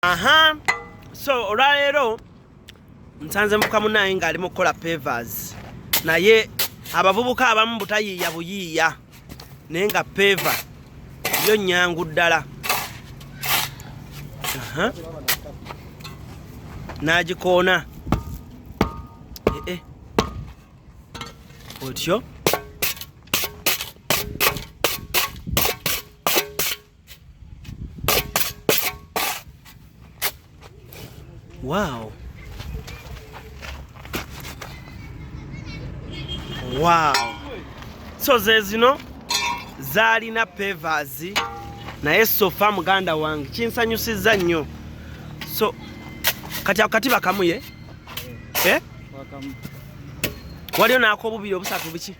aha so olwaleero nsanze muka munaye ng'ali mu kukola pavers naye abavubuka abamu butayiiya buyiiya naye nga peva yo nyangu ddala n'agikoona ee eh, eh. otyo Wow. Wow. So zezino zalina pavers naye sofa muganda wange kinsanyusiza nnyo so kati ako kati bakamuye eh? waliyo nakobubiri obusatu biki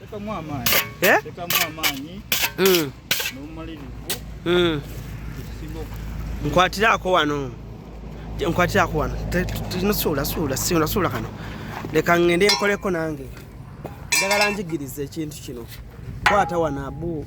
tekamu amaanyi eh? tekamu amaanyi mm. n'omumalirivu mm. ekisinga nkwatiraako wano nkwatiraako wano nosuula suula siula suula kano leka ngende nkoleko nange njagala njigiriza ekintu kino kwata wano abu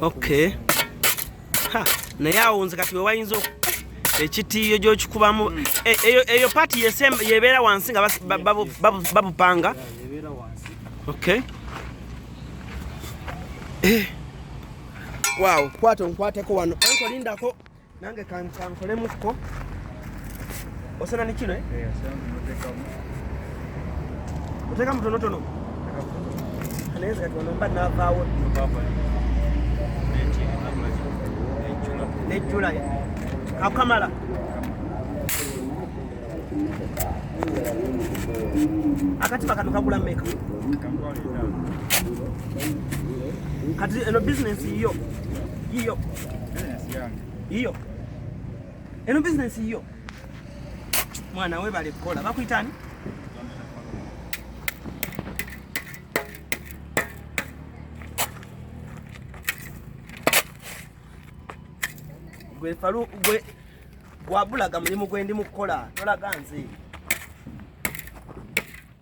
okay ha naye awo nze kati wewayinza ekitiiyo gyokikubamu mm. e, eyo pati yebeera wansi nga babupanga okay eh. wow kwato nkwateko wano enkolindako nange kankolemuko osana ni kino eh? eh, oteka mutonotono naye kati wano mba navaawo nejjula kakamala akati bakano kagula meka kati eno bizinensi yiyo yiyo Iyo. Eno business iyo. Mwana we bale kola. Bakuitani? Gwe falu gwe gwabulaga mulimu gwendi mukola. Tola ganzi.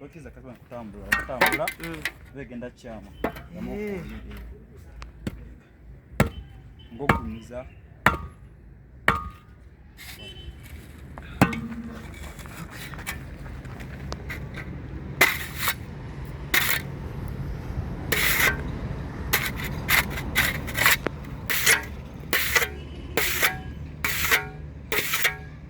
bakiza kati kutambula kutambula mm. begenda kyama eh. ngokumiza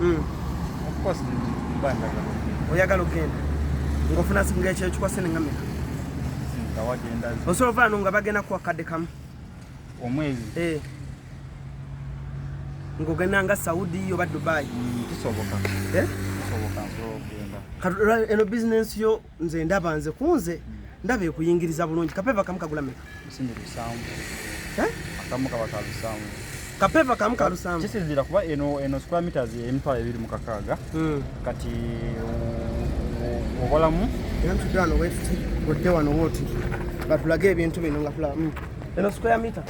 hmm. oyagala okugenda ngaofuna ngaekyekikwasennengamira osobola ovaano nga bagenda kuwa kadde kamu omwezi eh. ngogenda nga saudi oba dubai hmm, kisoboka eh? eno bizinensi yo nze ndaba nze kunze ndaba ekuyingiriza bulungi kapeva kamu kagula meka eh? kamu kaba kalusamu kapeva kamu kalusamu kisinzira kuba eno eno square meters emitwalo ebiri mu kakaaga hmm. kati obalamu era mutudano wefuti odde wano woti batulage ebintu bino nga tulaba hmm. eno square meter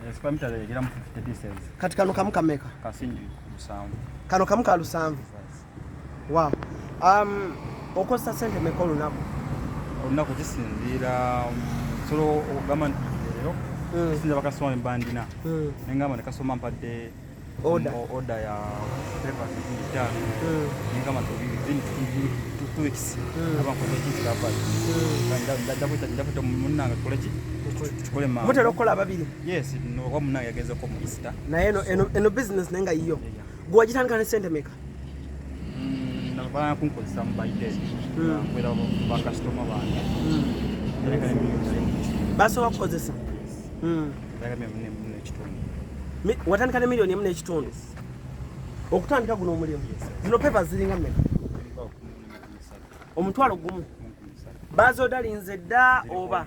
eh, square meter egera mu 50 pieces kati kano kamu kameka kasinji lusanvu kano kamu kalusanvu Wow. Um, okozesa sente meka olunaku? Olunaku kisinziira um, solo okugamba nti leero hmm. kisinziira bakasoma bembandina hmm. nengamba ne kasoma mpadde oda um, ya pepatano hmm. nengamba two weeks aba nkoze ekikirava ndakwita munange tukoleki tukolemutera okukola ababiri yes oba munange yagezeko mu easter naye eno business naye nga yiyo Gwe wagitandika ne ssente meka? Mm, Nabaa kunkozesa mu by day. Hmm. Nkwera bakasitoma bange. Hmm. Basobola kukozesa? Hmm. Watandika ne miliyoni emu n'ekitundu? Okutandika guno omulimu? Zino pepa ziringa mmeka? Omutwalo gumu? Bazodalinze dda oba?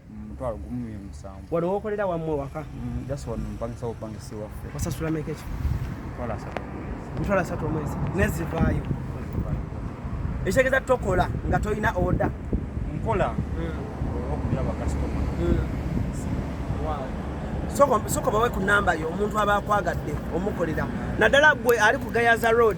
mutwalo gumu mu musanvu. Wano wokolera wamwe waka? Mm, just wano mpangisa bupangisi waffe. Osasula meka ekifo? Mutwalo asatu omwezi. Mutwalo asatu omwezi. Nezivaayo. Ekitegeeza tokola nga tolina oda. Nkola mm. okubira bakasitoma. Mm. Soko soko bawe ku namba yo omuntu aba akwagadde omukolera. Naddala gwe ali ku Gayaza Road.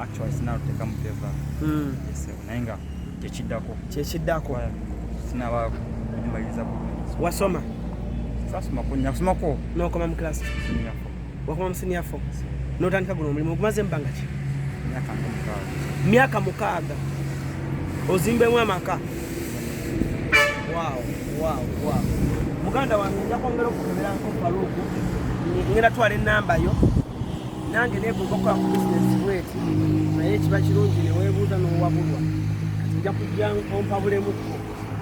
actually sinalo tekamu peva mm. yes, naye nga kyekiddako kyekiddako sinaba kumaliriza wasoma sasoma kunya kusoma ko nokoma mu class wakoma mu senior four notandika guno omulimu ogumaze mubanga ki myaka mukaaga ozimbemu amaka wow wow wow muganda wange nja kwongera okukeberanko faluku ngenda twala enamba yo nange negomba okukola ku bizinesi bweti naye kiba kirungi newebuuza nowabulwa kati nja kujja ompabulemuko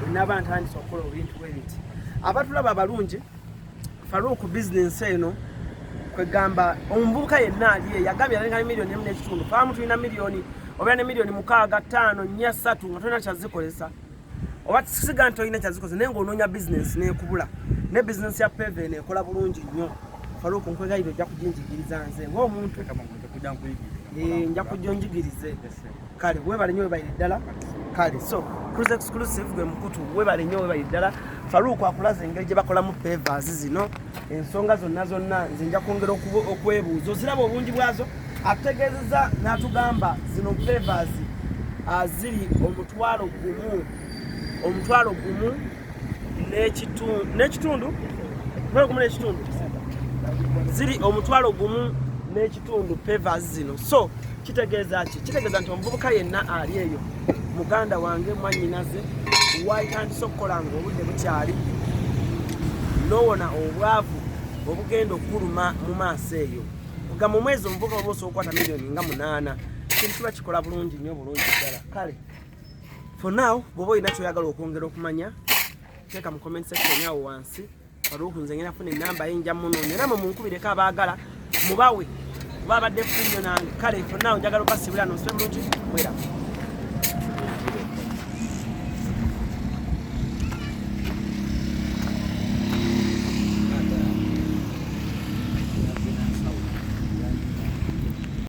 wenaba ntandisa okukola obintu bwebiti abatulaba abalungi faruku bizinesi eno kwegamba omuvubuka yenna ali eyo agambye alinga ne miliyoni emu n'ekitundu faamu tulina miliyoni obeera ne miliyoni mukaaga ttaano nnya ssatu nga tolina kyazikozesa oba kisiga nti olina kyazikoze naye ngaonoonya bizinensi nekubula ne bizinensi ya peve nekola bulungi nnyo faluku nkwegayira ojja kujinjigiriza nze ngaomuntu eh, nja kujja onjigirize kale webale nyo webaire ddala kale so cruise exclusive gwe mukutu webale nyo webaire ddala faluku akulaza engeri gye bakolamu pevas zino ensonga zonna zonna nze nja kwongera okwebuuza oziraba obungi bwazo atutegeezeza n'atugamba zino favors ah, ziri omutwalo gumu omutwalo gumu n'ekitundu omutwalo gumu n'ekitundu ziri omutwalo gumu tundu pevers zino so kitegeeza ki kitegeeza nti omuvubuka yenna ali eyo muganda wange mwanyinaze waitandise okukola nga obudde bukyali nowona obwavu obugenda okukuluma mu maaso eyo nga mu mwezi omuvubuka oba osobola okukwata miliyoni nga munaana kintu kiba kikola bulungi nnyo bulungi ddala kale for now bwoba olina kyoyagala okwongera okumanya teeka mu comment section awo wansi Faruku nze ngenda funa enamba ye nja munoonya namwe munkubireko abaagala mubawe kuba abadde funyo nange kale fonna njagala okasibula nosula bulungi mwera